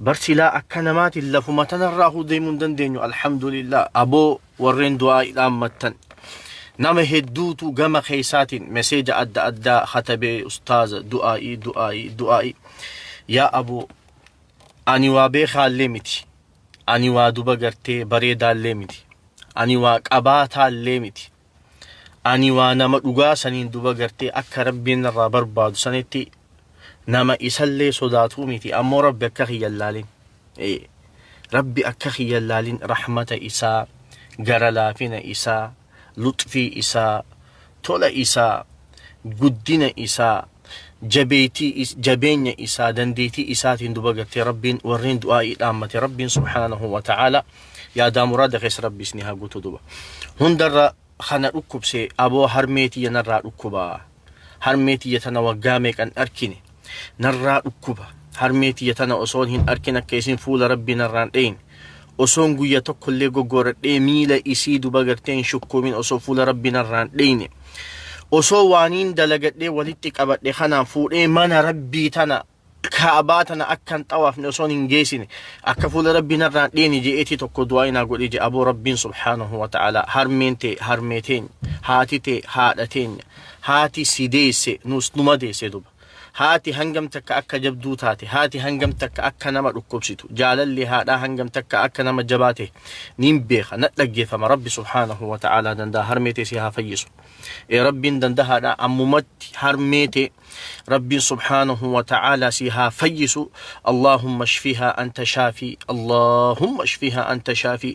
Bar silaa akka namaatin lafuma tanarraahuu deemuu hin dandeenyu alhamdulillaah aboo warreen du'aa'ii dhaammattan nama hedduutu gama keessaatiin meseeja adda addaa katabee ustaaza du'aa'ii du'aa'ii du'aa'ii yaa aboo ani waa beekaallee miti ani waa duba gartee bareedaallee miti ani waa qabaataallee miti Ani waa nama dhugaa saniin duba gartee akka Rabbiin narraa barbaadu sanitti nama isallee sodaatuu miti ammoo Rabbi akka kiyya hin laalin. Ee, Rabbi akka kiyya hin laalin rahmata isaa, gara laafina isaa, luxfii isaa, tola isaa, guddina isaa jabeeytii is jabeenya isaa dandeetii isaatiin duba gartee rabbiin warreen du'aa'ii dhaammate rabbiin subhaanahu wa ta'aala yaadaa muraada keessa rabbi isni haa guutu duba hundarra kana dhukkubse aboo harmee tiyya narraa dhukkuba harmee tiyya tana waggaa meeqan dharkine narraa dhukkuba harmee tiyya tana osoon hin arkin akka isin fuula rabbii narraan dheyne osoon guyya tokkollee goggooradhee miila isii duba gartee hin shukkuumin osoo fuula rabbii narraan dheyne osoo waaniin dalagadhee walitti qabadhe kanaan fuudhee mana rabbii tana kaabaa tana akkan xawaafne osoon hin geessine akka fuula rabbii narraan dheeni je'eetii tokko du'aa inaa godhee je aboo rabbiin subhaanahu wa ta'ala harmeen tee harmee teenya haati tee haadha teenya haati si deesse nus numa deesse duba haati hangam takka akka jabduu taate haati hangam takka akka nama dhukkubsitu jaalalli haadhaa hangam takka akka nama jabaa ta'e niin beeka na dhaggeeffama rabbi subhaanahu wa ta'aalaa danda'a harmee tee si haa fayyisu ee rabbiin dandahaadha ammumatti harmee tee rabbiin subhaanahu wa ta'aalaa si haa fayyisu allahumma shfihaa anta shaafii allahumma shfihaa anta shaafii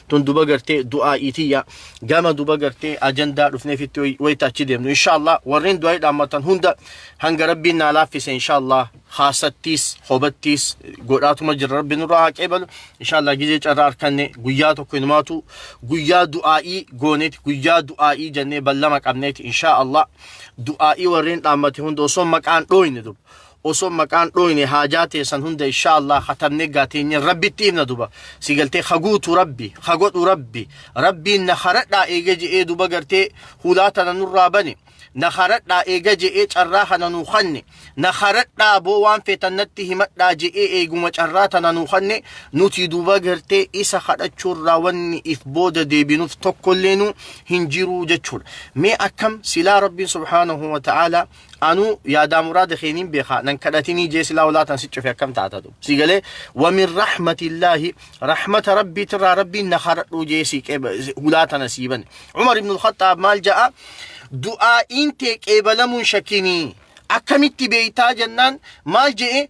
tun duba gartee du'aa'ii tiyya gama duba gartee ajandaa dhufneefitti way- wayita achi deemnu inshaallah warreen du'aa'ii dhaammatan hunda hanga rabbiin naa laaffise inshaallah haasattiis hobattiis godhaatuma jirra rabbi nurraa haa qeebalu inshaallah gizee carraa arkanne guyyaa tokko inumaatu guyyaa du'aa'ii gooneeti guyyaa du'aa'ii jennee ballama qabneeti inshaallah du'aa'ii warreen dhaammate hunda osoo maqaan dhooyne duba osoo maqaan dhooyne haajaa teessan hunda inshaa Allah katabne gaa teenye rabbitti himna duba si galtee ka guutu rabbi ka godhu rabbi rabbiin na karadhaa eega je'ee duba gartee hulaa tana nurraa bane na karadhaa eega je'ee carraa kana nuu kanne na karadhaa boo waan feetan natti himadhaa je'ee eeguma carraa tana nuu kanne nuti duba gartee isa kadhachuurraa wanni if booda deebinuuf tokkollee nu hin jiruu jechuudha mee akkam silaa rabbiin subhaanahu wa ta'aalaa Anuu yaadaa muraada kee niin beekaa nan kadhatinii jee silaa olaa tan siccufe akkam taatatu sii galee wamin rahmatillaahi rahmata rabbii tirraa rabbiin na kadhadhuu jee sii qeeba hulaa tana sii bane Umar ibn al-Khattaab maal ja'a du'aa'iin tee qeebalamuun shakkinii akkamitti beeytaa jennaan maal je'e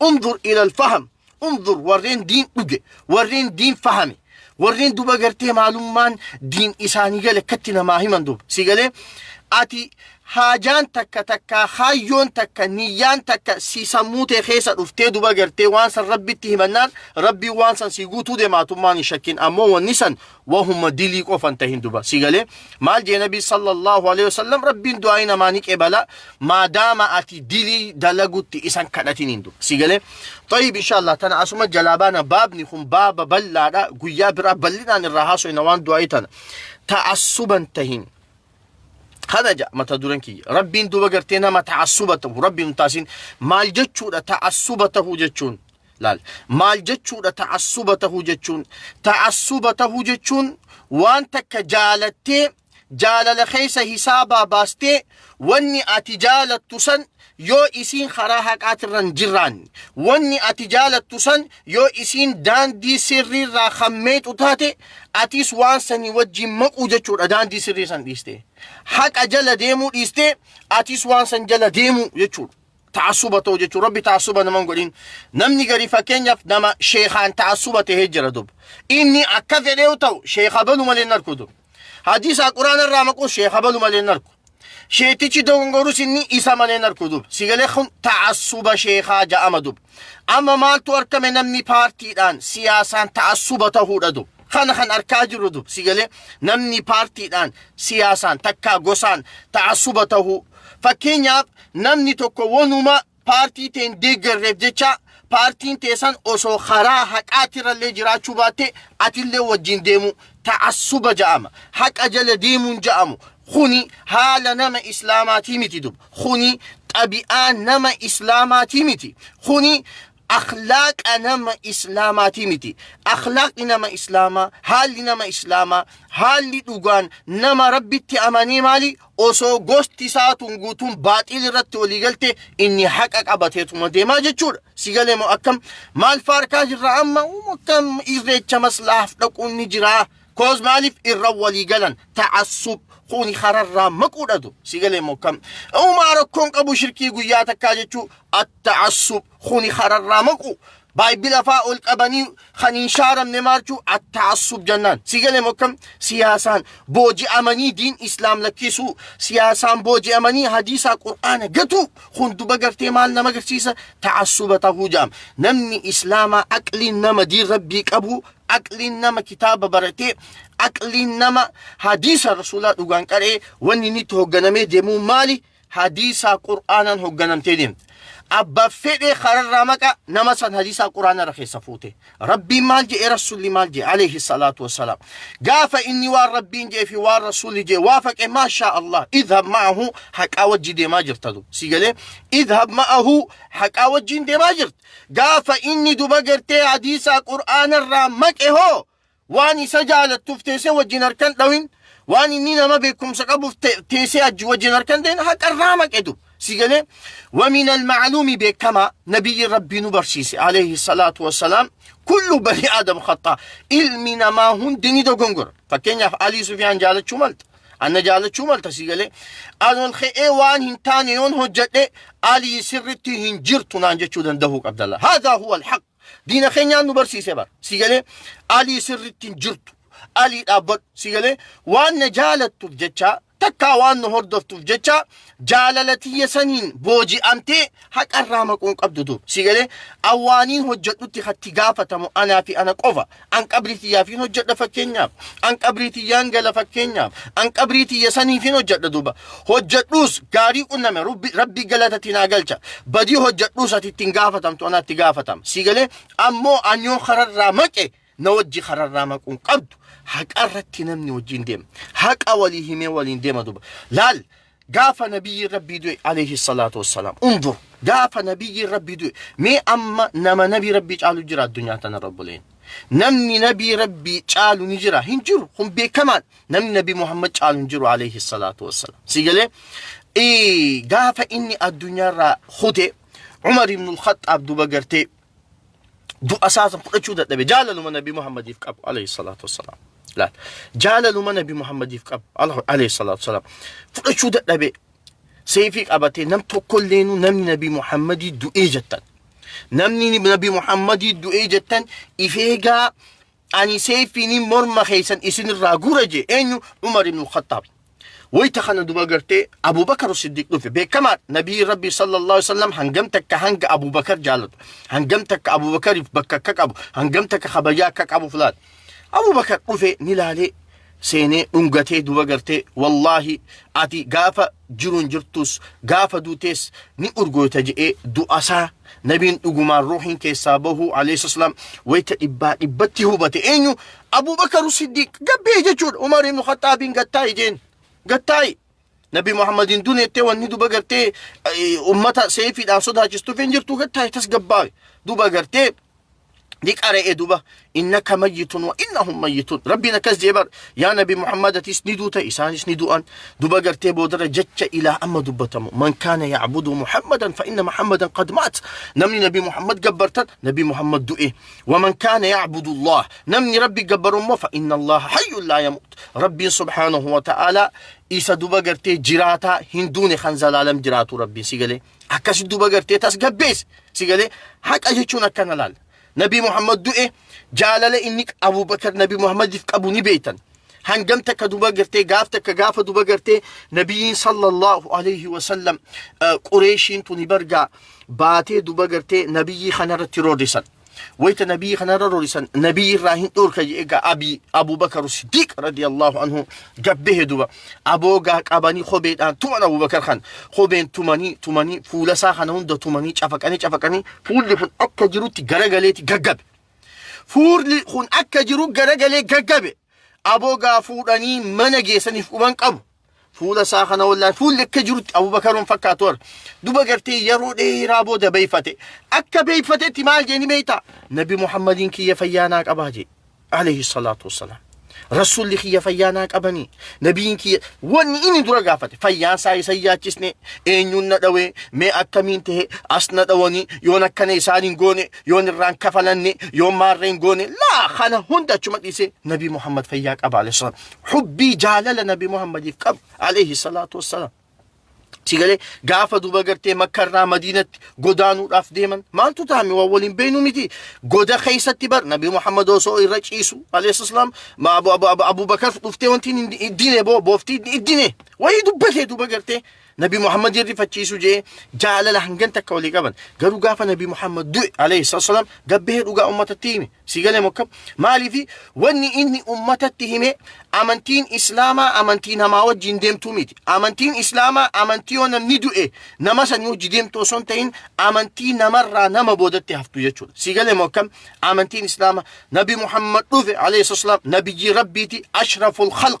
Unzur ilal faham. Unzur warreen diin dhuge, warreen diin fahame, warreen duba gartee maalummaan diin isaanii gale akkatti namaa himan duba. Si galee ati haajaan takka takka kaayyoon takka niyyaan takka si sammuu tee keessa dhuftee duba gartee waan san rabbitti himannaan rabbiin waan san si guutuu demaatummaan hin shakkin ammoo wanni san wahuma dilii qofan tahin duba si galee maal jee nabii sallallahu alaihi wasallam rabbiin du'aa'ii namaa ni qebala maadaama ati dilii dalagutti isan kadhatiniin duba si galee tayyib inshallah tana asuma jalaa baana baabni kun baaba bal'aadha guyyaa biraa bal'inaan irraa haasofna waan du'aa'ii tana ta'assuban tahin kana ja mata duran kiyya rabbiin duba gartee nama ta'assuba ta'u rabbiin taasin maal jechuudha ta'assuba ta'u jechuun laal maal jechuudha ta'assuba tahuu jechuun ta'assuba tahuu jechuun waan takka jaalattee jaalala keessa hisaabaa baastee wanni ati jaalattu san yoo isiin karaa haqaatirra hin jiraanne wanni ati jaalattu san yoo isiin daandii sirriirraa kan meexu taate atis waan sanii wajjin maquu jechuudha daandii sirrii san dhiiste haqa jala deemuu dhiiste atis waan san jala deemuu jechuudha ta'assuba ta'u jechuun rabbi ta'assuba nama hin godhin namni gari fakkeenyaaf nama sheekaan ta'assuba ta'ee jira dub inni akka fedhee yoo ta'u sheeka balu malee hin arku dub hadiisaa quraana irraa maquu sheeka balu malee hin arku sheetichi dogongorus inni isa malee hin arku dub sigalee kun ta'assuba sheekaa ja'ama dub amma maaltu argame namni paartiidhaan siyaasaan ta'assuba ta'uudha dub kana kan arkaa jirru dub sigalee namni paartiidhaan siyaasaan takkaa gosaan ta'assuba ta'uu fakkeenyaaf Namni tokko wonuma paartii tee hin deeggarreef jecha paartiin tee san osoo karaa haqaatirrallee jiraachuu baatte atillee wajjin deemu ta'assuba ja'ama. Haqa jala deemuun ja'amu kuni haala nama islaamaatii miti dub. Kuni xabi'aa nama islaamaatii miti. Kuni akhlaaqa nama islaamaatii miti. Akhlaaqni nama islaamaa, haalli nama islaamaa, haalli dhugaan nama rabbitti amanee maali? Osoo gosti isaatuun guutuun baaxiil irratti walii galte inni haqa qabateetuma deemaa jechuudha. Si galee moo akkam? Maal faarkaa jirra amma? Uum akkam irreecha maslaaf dhaquun ni jiraa? Koos maaliif irra walii galan? Ta'assub kuni hararraa maquudha du. Si galee moo akkam? Uumaa rakkoon qabu shirkii guyyaa takkaa jechuu Ta'assub, kuni kararraa maquu, Baayibila faa ol qabanii kan hin shaaramne maarchu atta'assub jannaan. Si gale mokkam siyaasaan booji'amanii diin Islaam lakkisuu, siyaasaan booji'amanii hadiisaa Qur'aana gatuu, kun duba gartee maal nama agarsiisa ta'assuba tahuu ja'am. Namni Islaamaa aqliin nama diin Rabbii qabu, aqliin nama kitaaba baratee, aqliin nama hadiisa Rasuulaa dhugaan qaree wanni inni itti hoogganamee deemuu maali? hadiisaa qur'aanaan hogganamtee deemte abba fedhe kararraa maqa nama san hadiisaa qur'aanarra keessa fuute rabbiin maal jedhe rasulli maal jedhe alayhi salaatu wassalaam gaafa inni waan rabbiin jedhe fi waan rasulli jedhe waafaqe maashaa allah idhab ma'ahu haqaa wajji deemaa jirta du si galee idhab ma'ahu haqaa wajjiin deemaa jirta gaafa inni duba gartee hadiisaa qur'aanarraa maqe hoo Waan isa jaalattuf teese wajjin harkan dhawin waan inni nama beekumsa qabuf teese ajji wajjin harkan deen haqa irraa maqedu sigale wa min al ma'lumi beekama nabiyyi rabbii nu barsiise alayhi salatu wassalam kullu bani adam khata ilmi nama hundi ni dogongora fakkeenyaaf ali sufyaan jaalachuu malta anna jaalachuu malta sigale anon khe'ee waan hin taane yoon hojjedhe ali sirritti hin jirtu naan jechuu dandahuu qabdalla hadha huwa al haq Diina keenyaan nu barsiise bar. Si galee alii sirriitti hin jirtu. Alii dhaabbadhu. Si galee waan na jaalattuuf jechaa takkaa waan nu hordoftuuf jechaa jaalala tiyya saniin booji'amtee haqarraa maquun qabdu dur. Si galee awwaaniin hojjedhutti hatti gaafatamu anaa fi ana qofa. An qabrii tiyyaafin hojjedha fakkeenyaaf. An qabrii tiyyaan gala fakkeenyaaf. An qabrii tiyya saniifin hojjedha duuba. Hojjedhuus gaarii qunname rubbi- rabbii galatatti naa galcha. Badii hojjedhuus ati ittiin gaafatamtu anaatti gaafatama. Sii galee ammoo an yoo kararraa maqe na wajji kararraa maquun qabdu. Haqa irratti namni wajjin deema. Haqa walii himee waliin deema duuba. Laal Gaafa nabiyyiin rabbii du'e alayhi salaatu wassalaam. Undur gaafa nabiyyiin rabbii du'e mee amma nama nabii rabbii caalu jira addunyaa tanarra obboleen. Namni nabii rabbii caalu ni jira hin jiru kun beekamaan namni nabii Muhammad caalu hin jiru alayhi salaatu wassalaam. Si galee Ee, gaafa inni addunyaarraa kute Umar ibn al-Khaxxaab duba gartee du'a isaa san fudhachuu dadhabe jaalaluma nabi muhammadiif qabu alayhi salaatu wassalaam laal jaalaluma nabi muhammadiif qabu ala- alayhi salaatu wassalaam fudhachuu dadhabe seeyfii qabatee nam tokkolleenu namni nabi muhammadii du'ee jettan namni nabi muhammadii du'ee jettan ifeegaa Ani seeyfiinin morma keessan isin irraa guura jee eenyu Umar ibn Khattaab. Wayta kana duba gartee Abu Bakar Siddiq dhufe beekamaa Nabii Rabbii sallallahu alaihi wasallam hangam takka hanga Abu Bakar jaalatu hangam takka Abu Bakariif bakka akka qabu hangam takka kabajaa akka qabu filaata. Abu Bakar dhufe ni laalee seenee dhungatee duba gartee wallaahi ati gaafa jiruun jirtus gaafa duutees ni urgooyta je'ee du'asaa nabiin dhugumaan ruuhiin keessaa bahuu alayhisaslaam wayta dhibbaa dhibbatti hubate eenyu abubakaru siddiiq gabbee jechuudha umar ibnu khaxaabiin gattaa'i jeen gattaa'i Nabi Muhammad hin dune jettee wanni duba gartee eh, ummata seefiidhaan sodaachistuuf hin jirtu gattaaye tasgabbaawe duba gartee ni qara'e duba innaka mayyitun wa innahum mayyitun rabbiin akkas jee bar yaa nabi muhammad atis ni duuta isaanis ni du'an duba gartee boodarra jecha ilaa amma dubbatamu man kaana yacbudu muhammadan fa inna muhammadan qad maat namni nabi muhammad gabbartan nabi muhammad du'e waman kaana yacbudu allah namni rabbi gabbaru immoo fa inna allaha hayyun laa yamuut Rabbiin subhaanahu wa ta'aalaa isa duba gartee jiraataa hin duune kan zalaalam jiraatu rabbiin si galee akkasi duba gartee tasgabbeessi si galee haqa jechuun akkana laala. Nabii Muhammad du'e jaalala inni Abubakar Nabii Muhammadiif qabu ni beektan. Hangam takka duba gartee gaaf takka gaafa duba gartee Nabiin sallallahu alayhi wa sallam Qureeshiin tuni bargaa baatee duba gartee Nabiyyii kanarratti roorrisan. wayta nabii kanarra rorisan nabii irraa hin dhorka jedhe gaa abii abubakar siddiiq radiyallahu anhu gabbehe duba aboogaa qabanii kobeedhaan tuman abubakar kan kobeen tumanii tumanii fuulasaa kana hunda tumanii cafaqanii cafaqanii fuulli kun akka jirutti garagaleeti gaggabe fuulli kun akka jiru garagalee gaggabe aboogaa fuudhanii mana geessaniif quban qabu Fuula isaa kana wallaahi fuulli akka jirutti Abubakaroon fakkaatu warra. Duba gartee yeroo dheeraa booda beeyfate. Akka beeyfatetti maal jeeni beeyta? Nabi Muhammadiin kiyya fayyaanaa qabaa jee. Alayhi salaatu wassalaam. Rasuulli kiyya fayyaanaa qabanii. Nabiin kiyya wanni inni dura gaafate fayyaan isaa isa yaachisne eenyuun na dhawee mee akkamiin ta'e as na dhawanii yoon akkana isaan hin goone yoon irraan kafalanne yoon maarree hin goone laa kana hunda achuma dhiisee Nabi Muhammad fayyaa qaba alayhi salaam. hubbii jaalala nabi muhammadiif qabu alayhi salaatu wassalaam si galee gaafa duba gartee makka irraa madiinatti godaanuudhaaf deeman maaltu taame waan waliin beeynu miti goda keessatti bar nabi muhammad osoo irra ciisu alayhi salaam ma abu abu abu abubakar dhuftee wanti iddine boo booftii iddine wayii dubbatee duba gartee Nabi Muhammad irrifachiisuu jee jaalala hangan takka walii qaban. Garuu gaafa Nabi Muhammad du'e alayhi salaam gabbee dhugaa ummatatti hime. Si galee mokka maaliifi wanni inni ummatatti hime amantiin Islaamaa amantii namaa wajjin deemtuu miti. Amantiin Islaamaa amantii yoo namni du'e nama sanii hojii deemtu osoo hin ta'in amantii namarraa nama boodatti haftu jechuudha. Si galee mokka amantiin Islaamaa Nabi Muhammad dhufe alayhi salaam nabiyyii rabbiiti ashraful khalq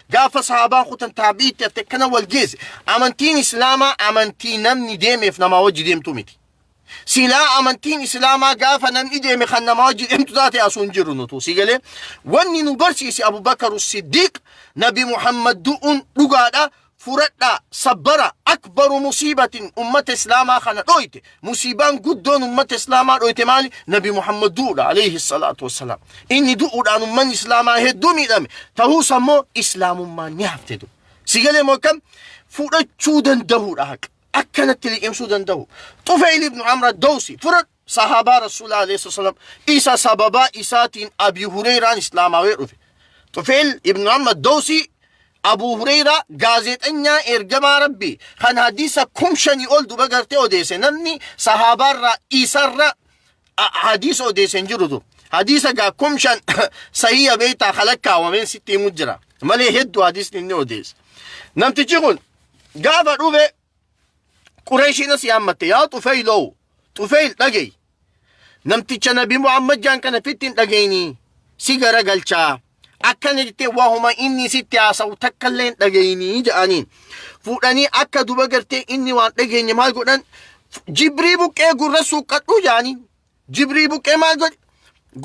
Gaafa sahaabaan kutan taabi'iitti haftee kana wal geesse amantiin islaamaa amantii namni deemeef namaa wajji deemtu miti. Silaa amantiin islaamaa gaafa namni deeme kan namaa wajji deemtu taate asuu hin jiru nutu si galee wanni nu barsiise Abubakar Siddiiq Nabi Muhammad du'uun dhugaadha furadhaa sabbara akbaru musiibatin ummata islaamaa kana dhooyte Musiibaan guddoon ummata Islaamaa dhoyte maali? Nabi Muhammad du'uudha alayhi salaatu wassalaam. Inni du'uudhaan ummanni Islaamaa hedduu miidhame. Ta'uus ammoo Islaamummaan ni hafte dur. Si galee moo akkam? Fudhachuu danda'uudha haqa. Akkanatti liqimsuu danda'u. Tufayl ibn Amr ad-Dawsi fudhadhu. Sahaabaa Rasuulaa alayhi salaatu wassalaam. Isa sababaa isaatiin Abi Hureyraan Islaamaawee dhufe. Tufayl ibn Amr ad-Dawsi Abuu Hureyraa gaazeexanyaa Eergamaa Rabbii kan hadiisa kum shanii ol duba gartee odeesse namni sahaabaarraa isarra a- hadiisa odeesse hin jiru dur. Hadiisa gaa kum shan sahiya beektaa kan lakkaawameen sitti himu jira. Malee hedduu hadiisni inni odeesse. Namtichi kun gaafa dhufe Qureeshiin asii hammatte yaa Tufeyl oo Tufeyl dhagayi namticha nabi Muhammad jaan kana fitti hin dhagayini si gara galchaa akkana jettee waahuma inni sitti haasa'u takka illee hin dhagayini jedhaniin fuudhanii akka duba gartee inni waan dhageenye maal godhan jibrii buqqee gurra suuqqadhuu jedhaniin jibrii buqqee maal godhe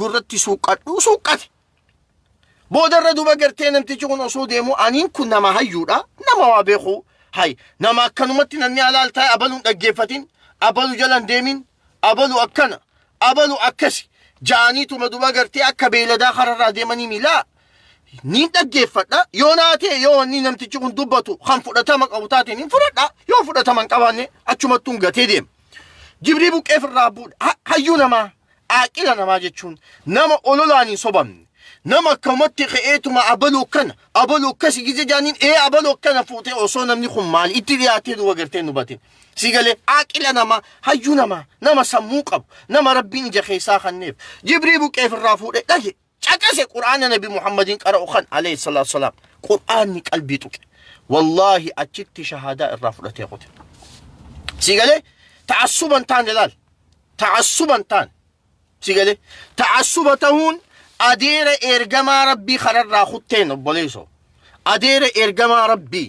gurratti suuqqadhuu suuqqate Boodarra duuba gartee namtichi kun osoo deemu aniin kun nama hayyuudha nama waa beeku hay nama akkanumatti namni alaal taa'e abaluun dhaggeeffatin abalu jalan deemin abalu akkana abalu akkasi jaaniituma duuba gartee akka beeyladaa kararraa deemanii miilaa niin dhaggeeffadha yoo naa ta'e yoo wanni namtichi kun dubbatu kan fudhatama qabu taate niin fudhadha yoo fudhatama hin qabaanne achumattuun gatee deema. Jibrii buqqee firraa buudha hayyuu namaa Aaqila namaa jechuun nama ololaan hin sobamne. Nama akkamatti ka'eetuma abaluu akkana, abaluu akkasi gizee jaaniin ee abaluu akkana fuutee osoo namni kun maali itti dhiyaatee duuba gartee nu batin. Si galee aaqila namaa, hayyuu namaa, nama sammuu qabu, nama rabbiin ija keessaa kanneef. Jibrii buqqeef irraa fuudhee dhage. caqase qur'aana nabi muhammadiin qara'u kan alayhi salaatu wasalaam qur'aanni qalbii tuqe wallaahi achitti shahaadaa irraa fudhatee kute sii galee ta'assuban taane laal ta'assuban taane sii galee ta'assuba tahuun adeera ergamaa rabbii kanarraa kutteen obboleeso adeera ergamaa rabbii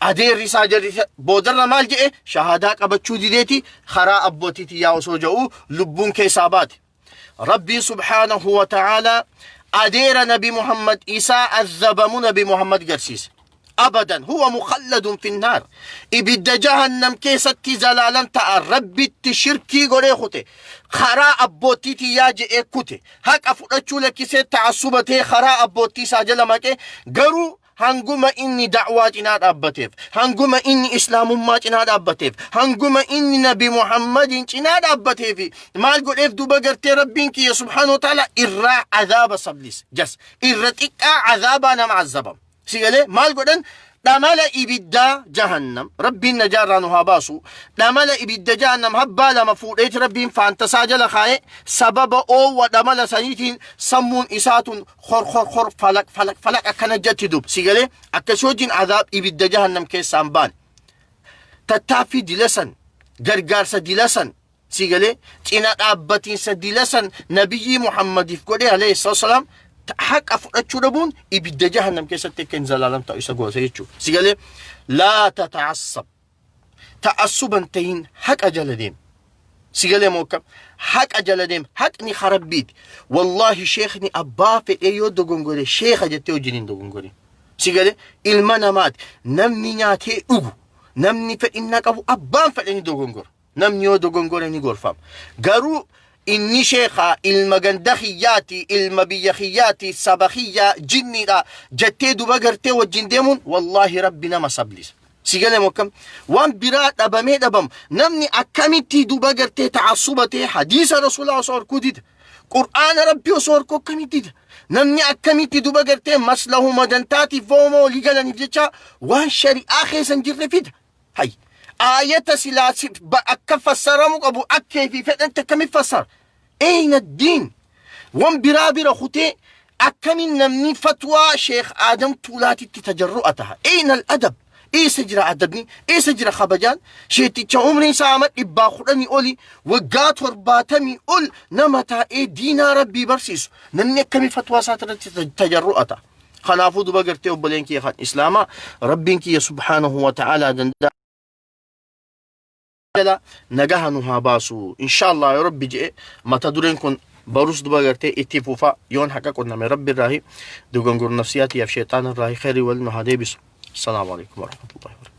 Adeerri isaa jarri boodarra maal jedhe shahaadaa qabachuu dideeti karaa abbootii tiyyaa osoo ja'u lubbuun keessaa baate. Rabbiin subhaanahu wa ta'aalaa adeera nabi Muhammad isaa azabamu nabi Muhammad garsiise. Abadan huwa mukhalladun finnaar. Ibidda jahannam keessatti zalaalan ta'a rabbitti shirkii godhee kute. Karaa abbootii tiyyaa je'ee kute. Haqa fudhachuu lakkisee ta'assubatee karaa abbootii isaa jala maqe garuu hanguma inni da'waa cinaa dhaabbateef, hanguma inni islaamummaa cinaa dhaabbateef, hanguma inni nabi Muhammadiin cinaa dhaabbateef, maal godheef duuba gartee rabbiin kiyya subhaanahu wa ta'ala irraa azaaba sablise. Jas irra xiqqaa azaabaa nama azabamu. Si galee maal godhan dhamala ibiddaa jahannam rabbiin najaarraa nu haa baasu dhamala ibidda jahannam habbaa lama fuudheeti rabbiin faantasaa jala kaa'e sababa oowwa dhamala saniitiin sammuun isaatun hor hor hor falaq falaq falaq akkana jetti dub si galee akkasii wajjin azaab ibidda jahannam keessaan baan tattaaffii dilasan gargaarsa dilasan si galee cina dhaabbatiinsa dilasan nabiyyii muhammadiif godhe alayhi salaam haqa fudhachuu dhabuun ibidda jahannam keessatti akka hin zalaalam ta'u isa goose jechuudha si galee laa tataassab ta'assuban tahin haqa jala deem si galee moo akkam haqa jala deem haqni ha rabbiiti wallaahi sheekni abbaa fedhee yoo dogongore sheeka jettee wajjin hin dogongorin si galee ilma namaati namni nyaatee dhugu namni fedhinna qabu abbaan fedhe ni dogongora Namni yoo dogongore ni gorfama. Garuu inni sheekaa ilma ganda kiyyaati, ilma biyya kiyyaati, saba kiyyaa jinniidha jettee duba gartee wajjin deemuun wallaahi rabbi nama sablisa. Si galeemu akkam? Waan biraa dhabamee dhabamu. Namni akkamitti duba gartee ta'assuba ta'ee hadiisa rasuulaa osoo horkuu dida. Qur'aana rabbi osoo horkuu akkamitti dida. Namni akkamitti duba gartee maslahuma dantaatiif fooma olii galaniif jecha waan shari'aa keessa hin jirre fida. Hay. Aayata silaa si- ba- akka fassaramu qabu akkee fi fedhatti akkamitti fassara? Eyna diin. Wan biraa bira kutee akkamiin namni fatwaa Sheekh Aadam Tuulaatitti tajarru'a taha? Eyna al-adab. Eessa jira adabni? Eessa jira kabajaan? Sheeticha umriin isaa amma dhibbaa kudhanii oli waggaa torbaatamii ol nama taa'ee diinaa rabbii barsiisu. Namni akkamii fatwaa isaa irratti tajarru'a taha? Kanaafuu duba gartee obboleen kiyya kan Islaamaa Rabbiin kiyya subhaanahu wa ta'aalaa danda'a. jala nagaha nu haa baasu inshaallah yoo rabbi je'e mata dureen kun barus duba gartee itti fufa yoon haqa qunname rabbi irraahi dogongor nafsiyaatiyaaf sheexaan irraahi khayri wal nu haa deebisu assalaamu alaikum warahmatullahi wabarakatuh